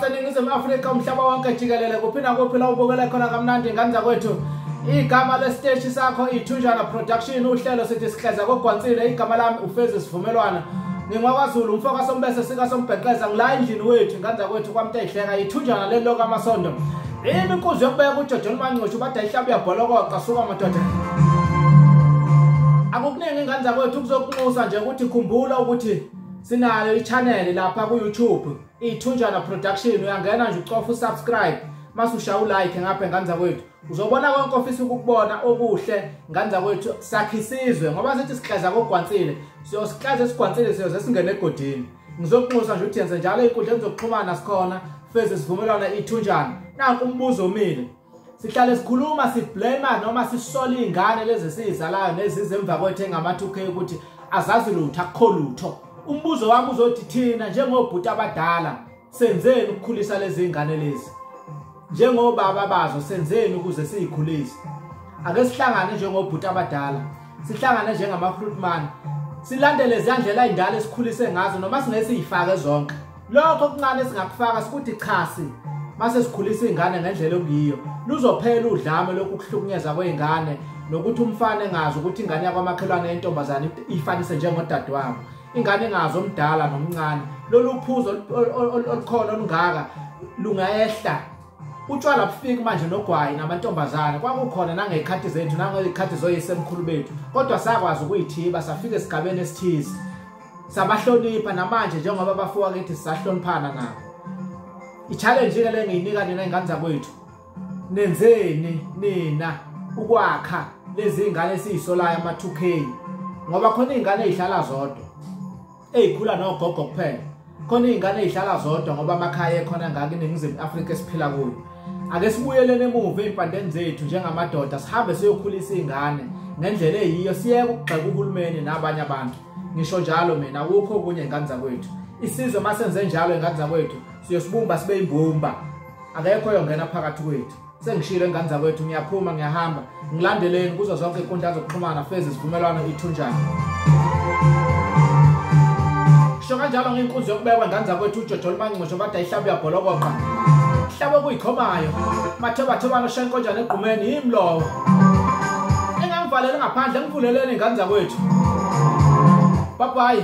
eningizimu afrika umhlaba wonke jikelele kuphi nakuphi la ubukele khona kamnandi ingane zakwethu igama lesiteshi sakho ithunjana production uhlelo sithi sihleza kogwansile igama lami ufezi sivumelwana ngingwakwaZulu umfo kaSombese sikaSombheqeza ngila endlini wethu inganda kwethu kwamtehleka ithunjana leli loka amasondo yini inkuzi yokubeka ujojo limancutshu bade ihlaba uyabholokoqa suka madoda akukuningi ingane zakwethu kuzokunxusa nje ukuthi khumbula ukuthi sinayo i-channel lapha ku-youtube iyithunjana production uyangena nje ucofa usubscribe mase ushaya ulike ngapha engane zakwethu uzobona konke ofisa ukukubona okuhle ngane zakwethu sakhe isizwe ngoba sithi sihlaza kogwansile siyosihlaza esigwansile siyoze singene egodini ngizokunxusa nje ukuthi yenze njalo ey'nkundleni zokuxhumana sikhona feze isivumelwano ithunjana nanku umbuzo omile sihlale sikhuluma siblema noma sisola iy'ngane lezi esiyizalayo nezize emva kwethu engama-two k ukuthi azazi lutho akukho lutho umbuzo wami uzothi thina njengobhuti abadala Senzeni ukukhulisa lezi zingane lezi? Njengobaba bazo senzeni ukuze sizikhulise? Ake sihlangane njengobhuti abadala, sihlangane njengama fruit man. Silandele izindlela ezindala esikhulise ngazo noma singesizifake zonke. Lokho kuncane singakufaka sikuthi chasi mase sikhulisa ingane ngendlela okuyiyo. Luzophela udlame lokuhlukunyezwa kweingane nokuthi umfana engazi ukuthi ingane yakwamakhelwane yentombazane ifanise njengodadewabo ingane ngazo omdala nomncane lolu phuzo olukhona olungaka lungayehla utshwala bufiki manje nogwayi namantombazane kwakukhona nangey'khathi zethu nangey'khathi zoyisemkhulu bethu kodwa sakwazi ukuyithiba safika esigabeni esithize sabahlonipha namanje njengoba bafuwa kithi sisahloniphana nabo i-challenge-ke le ngiyinika nina iy'ngane zakwethu nenzeni nina ukwakha lezi ngane esizisolayo ama 2K ngoba khona izingane ezihlala zodwa ezikhula nogogo kuphela khona izingane ezihlala zodwa ngoba amakhaya ekhona ngaka iningizimu Afrika esiphila kuyo ake sibuyelene emuva ezimpandeni zethu njengamadoda sihambe siyokhulisa izingane ngendlela eyiyo siyeke ukugxeka uhulumeni nabanye abantu ngisho njalo mina ukho kunye ingane zakwethu isizwe masenze njalo ingane zakwethu siyosibumba sibe imbumba akekho oyongena phakathi kwethu sengishilo engane zakwethu ngiyaphuma ngiyahamba ngilandeleni kuzo zonke iy'nkundla zokuxhumana fezi isivumelwano ithunjani sho kanjalo ngiyinkunzi yokubekwa ingane zakwethu ujojo olumancincisho kade ayihlabe uyabholokoqa hlabe okuyikhomayo mathobathobana oshaya inkonjana egqumeni yimi lowo engangivalele ngaphandle ngivuleleni iy'ngane zakwethu babayi